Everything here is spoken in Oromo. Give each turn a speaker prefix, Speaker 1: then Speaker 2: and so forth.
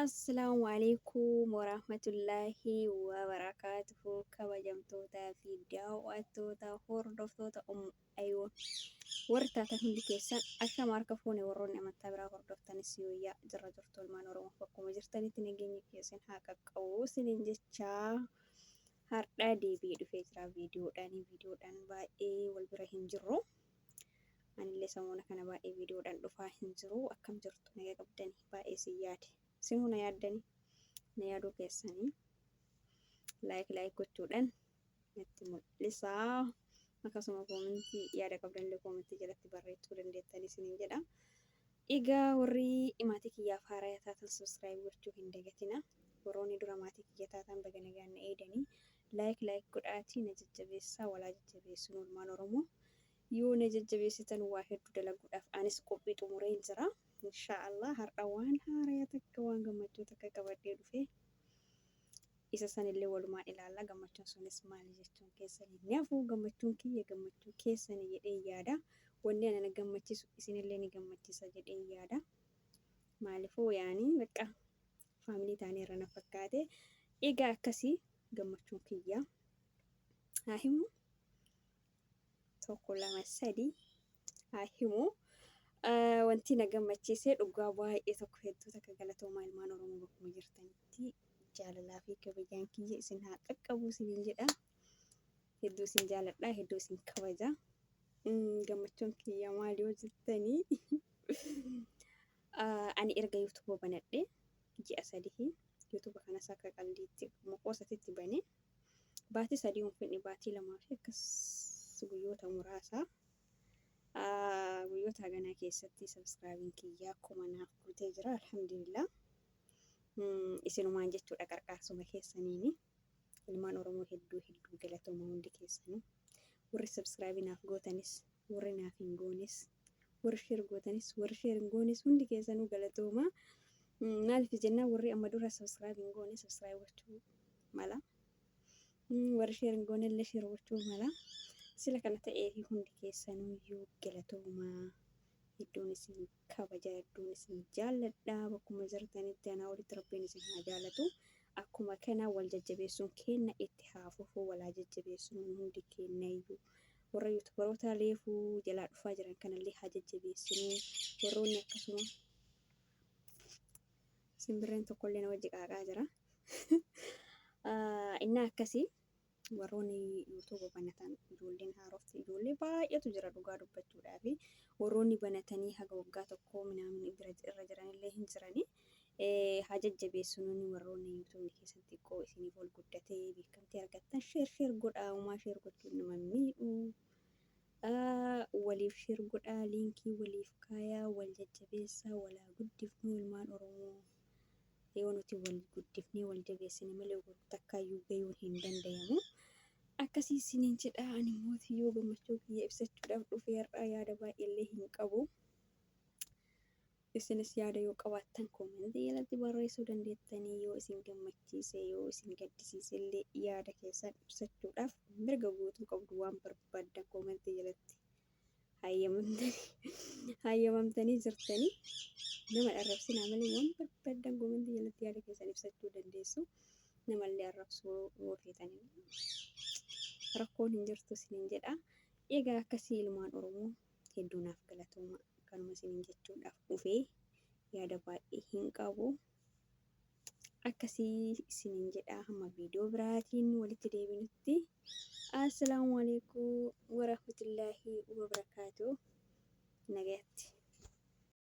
Speaker 1: Assalaamu alaikum warahmatullaahi wabarakaatuhu kabajamtootaa fi daawwattoota hordoftoota Aywa. Warri taatan hundi keessan ashama harka fuune warroonni amantaa biraa hordoftanis yooyyaa jirra jirtu ilmaan Oromoof bakkuma jirtanitti nageenyi kiyya isin haa qaqqabu isiniin jechaa hardha deebi'ee dhufee jira viidiyoodhaan viidiyoodhaan baay'ee wal bira hin jirru anillee samuuna kana baay'ee viidiyoodhaan dhufaa hin jiru akkam jirtu naga qabdani baay'ee isin yaade isinuu na yaaddani na yaaduu keessanii laayik laayik gochuudhaan natti mul'isa. Akkasuma koomentii yaada qabdanillee koomentii jalatti barreessuu dandeettan isiniin jedha. Egaa warri maatii kiyyaaf haaraya taatan subscribe gochuu hin dagatina. Warroonni dura maatii kiyya taatan baga nagaan na eegdanii like like godhaatii na jajjabeessaa walaa jajjabeessuun olmaan Oromoo. Yoo na jajjabeessitan waa hedduu dalaguudhaaf anis qophii xumureen jira. Inshaa Allah har'a waan haaraya takka waan gammachuu takka qabadhee dhufee isa sanillee walumaan ilaalla gammachuun sunis maali jechuun keessan hin hafu gammachuun kiyya gammachuu keessani jedhee yaada wanni anana gammachisu isinillee ni gammachisa jedhee yaada maalifuu yaani bakka faamilii taanee irra na fakkaate egaa akkasii gammachuun kiyya haa himu tokko lama sadii haa himu. Wanti na gammachiise dhugaa baay'ee tokko hedduu takka galatoomaa ilmaan Oromoo bakkuma jirtanitti jaalalaa fi kabajaan kiyya isin haa qaqqabu isiniin jedha. Hedduu isin jaaladha, hedduu isin kabaja. Gammachuun kiyya maal yoo jettanii ani erga yuutuuba banadhe ji'a sadii yuutuuba kanas akka qaldiitti maqoosatitti banee Baatii sadii hin fudhne baatii lamaa fi akkas guyyoota muraasa guyyoota haganaa keessatti sabskraabiin kiyyaa kuma naaf guutee jira alhamdulillah isinumaan jechuudha qarqaarsuma keessaniini ilmaan oromoo hedduu hedduu galatooma hundi keessanuu warri sabskraabii naaf gootanis warri naaf hin goonis warri sheer gootanis warri sheer hin goonis hundi keessanuu galatooma maaliif jennaan warri amma dura sabskraabii hin goone sabskraabii gochuu mala warri sheer hin goone illee sheer gochuu mala sila kana ta'ee fi hundi keessanuyyuu galatoomaa hedduun isin kabaja hedduun isin jaalladha bakkuma jirtanitti anaa olitti rabbiin isin haa jaalatu akkuma kana wal jajjabeessuun keenna itti haa fufu walaa jajjabeessuun hundi keenna iyyuu warra yuutubaroota leefuu jalaa dhufaa jiran kanallee haa jajjabeessinuu warroonni akkasuma Simbirreen tokkollee na wajji qaaqaa jira. Innaa akkasii warroonni yuutuuba banatan ijoolleen haarofti ijoollee baay'eetu jira dhugaa dubbachuudhaaf warroonni banatanii haga waggaa tokkoo minaamin bira irra jiranillee hin jirani. Haa jajjabeessuun warroonni yuutuubni keessan xiqqoo isiniif ol guddatee beekamtii argattan sheer sheer godhaa uumaa sheer gochuun nama miidhuu. aa waliif sher godhaa linkii waliif kaayaa wal jajjabeessaa wal haa guddifnuu ilmaan oromoo yoo nuti wal guddifnee wal jabeessine malee wal takkaayyuu gayuun hin dandayamu akkasii isiniin jedhaa ani immoo yoo gammachuu kiyya ibsachuudhaaf dhufee har'aa yaada baay'eellee hin qabu Isinis yaada yoo qabaattan comment jalatti barreessuu dandeettanii yoo isin gammachiise yoo isin gaddisiise illee yaada keessan ibsachuudhaaf mirga guutuu qabdu waan barbaaddan comment jalatti hayyamamtanii hayyamamtanii jirtanii nama arrabsinaa malee waan barbaaddan comment jalatti yaada keessan ibsachuu dandeessu namallee arrabsuu yoo feetanii rakkoon hin jirtu isiniin jedha egaa akkasii ilmaan oromoo Hedduu naaf galatooma kanuma isiniin jechuudhaaf dhufee yaada baay'ee hin qabu. Akkasii isiniin jedhaa hamma viidiyoo biraatiin walitti deebinutti. Assalaamu alaikum warahmatullaahi wabarakaatu. Nagayatti.